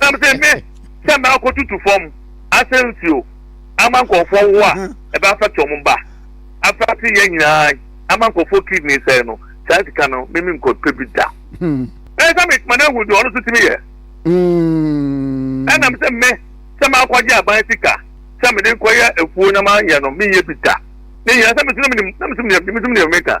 Nam sɛ me sɛ maakɔ tutu fam asɛ nsuo ama nkurɔfoɔ wo a ɛbɛ afɛte wɔn mba afɛte yɛn nyinaa ama nkurɔfoɔ kidney sɛe no saa sika no me me nkɔpɛ bi da ɛyɛ sɛ metuma no ahu deɛ ɔno so tumi yɛ ɛnam sɛ me sɛ maakɔgye aban sika sɛ mede nkɔyɛ afuo na mayɛ no meyɛ bi da ne nyinaa sɛ mesɛ menim na mesɛ menim mesɛ menim meka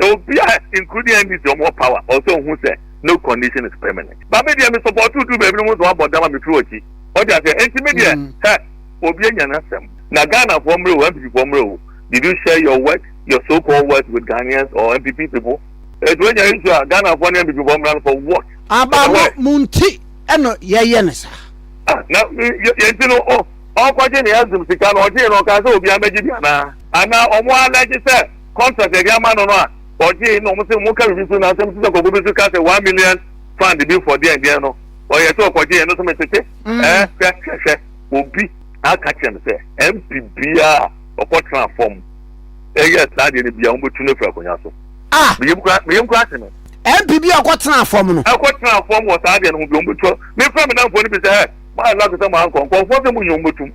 Na obiaa including NDC ɔmo wɔ power ɔwɔ sɛ ohu sɛ no condition is permanent but me deɛ me support wo duru baabi no woso wabɔ dam a me firi wakyi wate aseɛ enti me deɛ hɛ obi anya n'asɛm na Ghana foɔ mmerɛ o NPP foɔ mmerɛ o did you share your work your so called work with Ghanaians or NPP people eti wanya issue a Ghana foɔ ne NPP foɔ mmra no for what Aba no mo nti ɛna yɛyɛ no saa. Ah, na yɛn ti no ɔkɔgye ne azum sika no ɔgye no ɔka sɛ obi amɛgye bi anaa anaa ɔmo alɛgye sɛ contract a yɛde ama no no a ɔgyee na wɔn sɛ wɔn ka biribi so na asɛm sisa kɔkɔ bi so ka sɛ one million fund bi for deɛn deɛn no ɔyɛ sɛ ɔkɔgye yɛn no so metete mm. ɛɛ hwɛ hwɛ hwɛ obi aka kyerɛ no sɛ mp biara ɔkɔ tena fam ɛyɛ saa deɛ no bia wɔn bɛtu no firi akonnwa so ah! meyɛ mu kura meyɛ mu kura se no mp bi ɔkɔ tena fam no. ɛkɔ tena fam wɔ saa deɛ no ho bi wɔn bɛ tu mefra mi nanfoɔ no bi sɛ ɛ maa nla sɛ maa nkɔ nkɔnfoɔ sɛ mo nyɛ wɔn bɛ tum